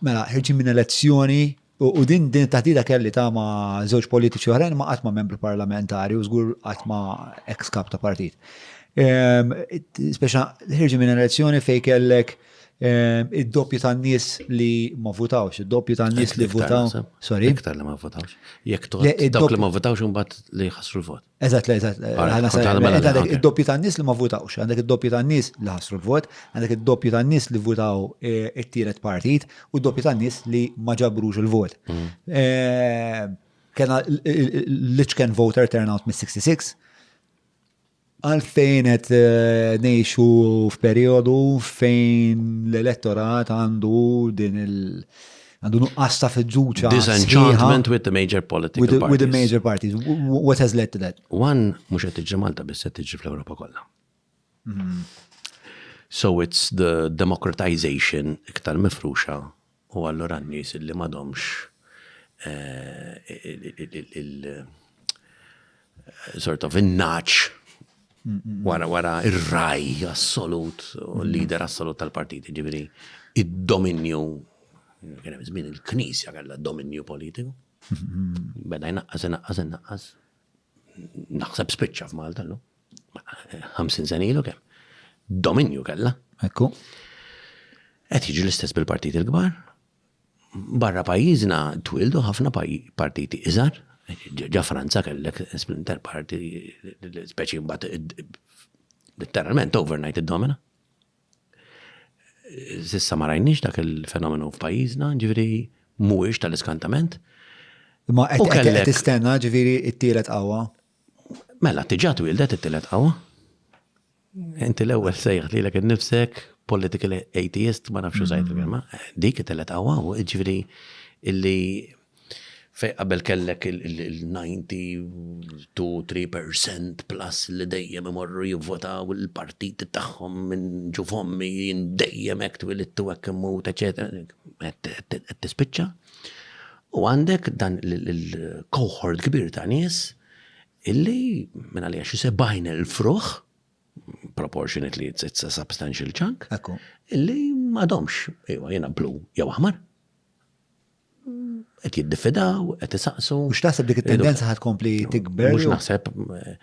Mela, ħirġin minn elezzjoni u din din it-taħdida kelli ta' ma' żewġ politiċi oħrajn ma' qatt ma' membru parlamentari u żgur qatt ma' ex kap ta' partit. Ehm, speċa ħirġin minn elezzjoni fej kellek Ehm, id-doppju tan-nies li ma votawx, id-doppju tan-nies li votaw. Sorry. Iktar li ma votawx. Jekk dawk li ma votawx imbagħad li ħasru l-vot. Eżat, le, eżat. Għandek id-doppju ta' nis li ma votawx, għandek id-doppju ta' nis li ħasru l-vot, għandek id-doppju ta' nis li votaw e, it-tielet partit u d-doppju ta' nis li ma ġabrux il-vot. Mm. E, kena l-iċken voter turnout mis-66, għalfejn qed e, nejxu f'periodu fejn l-elettorat għandu din il- għandu nuqqas ta' fiduċa. Disenchantment with the major political parties. With the major parties. What has led to that? One, mux għet iġi Malta, bis għet iġi fl-Europa kolla. Mm-hmm. So it's the democratization iktar mifruxa u għallura n-nis li madomx eh, sort of in-naċ wara wara ir-raj assolut, l-lider assolut tal-partit, ġibri, id-dominju, kienem żmien il-knisja kellha dominju politiku. Beda jnaqqas, jnaqqas, jnaqqas. Naħseb spiċċa f'Malta l 50 sen ilu kemm. Dominju kellha. Ekku. Qed jiġi l-istess bil-partit il-kbar. Barra pajjiżna twieldu ħafna partiti iżgħar, ġa Franza kellek splinter party speċi mbagħad letteralment overnight id-domina. Sissa ma rajniex dak il-fenomenu f'pajjiżna, ġifieri mhuwiex tal-iskantament. Ma qed tistenna ġifieri t-tielet qawwa? Mela tiġà twieldet it-tielet qawwa. Inti l-ewwel sejħ lilek innifsek political atheist, ma nafx użajt il-kelma, dik itellet qawwa, ġifieri illi fej qabel kellek il-92-3% plus li dejjem imorru jivvotaw il-partit tagħhom minn ġu fommi jien dejjem hekk twilidtu hekk immut, eċetera, qed tispiċċa. U għandek dan il-cohort kbir ta' nies Illi, minagħliha xi 70,000 ruħ, proportionately it's a substantial chunk, illi m'għadhomx, iwa jiena blu jew aħmar. Qed jiddifidaw, qed isaqsu. Mhux naħseb dik it-tendenza ħad kompli tikber. Mhux naħseb eh,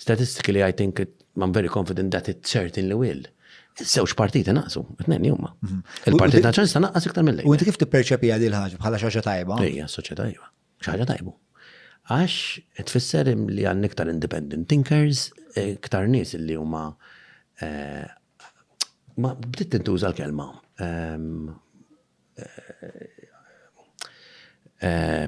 statistically I think it, I'm very confident that it certainly will. Iż-żewġ partiti naqsu, t-tnejn huma. Mhm. Il-Partit Nazzjonalista naqqas iktar mill-lejn. U inti kif tipperċepi għadi l-ħaġa bħala xaġa tajba? Ejja, soċjetà tajba. Xi ħaġa tajba. Għax tfisser li għandna iktar independent thinkers, iktar nies li huma ma bdiet tintuża l-kelma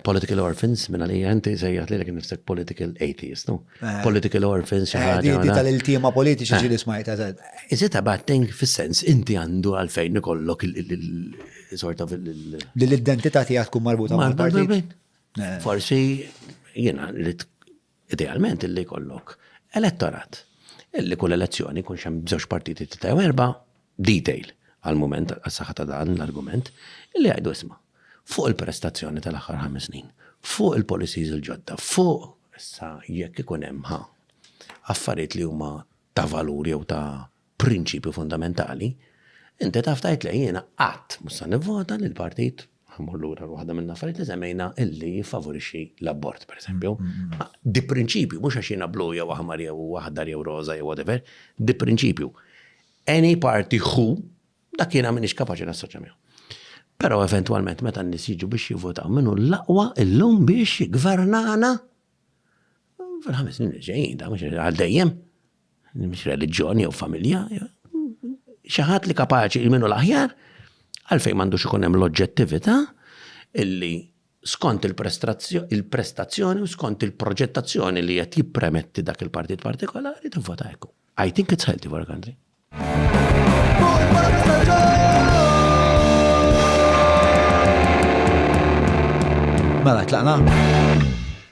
political orphans minn għalija inti sejjaħt lilek innifsek political atheist, no? Political orphans xi ħaġa. Inti tal-iltiema politiċi ġieli smajta. Is it a bad thing fis-sens inti għandu għalfejn ikollok Sorta fil- Li l-identità tiegħek tkun marbuta ma' partit. Forsi jiena li idealment illi kollok elettorat. Illi kull elezzjoni kun xem bżoċ partiti t tew erba detail għal-moment għas-saħħa ta' dan l-argument illi għajdu isma' fuq il-prestazzjoni tal-aħħar ħames snin, fuq il-policies il-ġodda, fuq issa jekk ikun hemm ħa affarijiet li huma ta' valur jew ta' prinċipju fundamentali, inti taf tgħid le jiena qatt mhux se nivvota li l-partit ħammur lura waħda minn affarijiet li semmejna illi jiffavorixxi l-abort, pereżempju. Di prinċipju, mhux għax jiena blu jew aħmar jew aħdar jew roża jew whatever, di prinċipju. Any party who dak jiena m'iniex kapaċi nassoċja miegħu. Però eventwalment meta n-nies jiġu biex jivvotaw minnu l-aqwa illum biex jgvernana fil-ħames snin ġejjin, da mhux għal dejjem. mhix reliġjon jew familja, xi ħadd li kapaċi minnu l-aħjar, għalfejn m'għandux ikun hemm l-oġġettività illi skont il-prestazzjoni u skont il-proġettazzjoni li qed jippremetti dak il-partit partikolari tivvota hekk. I think it's healthy for a country. Mela, tlaqna?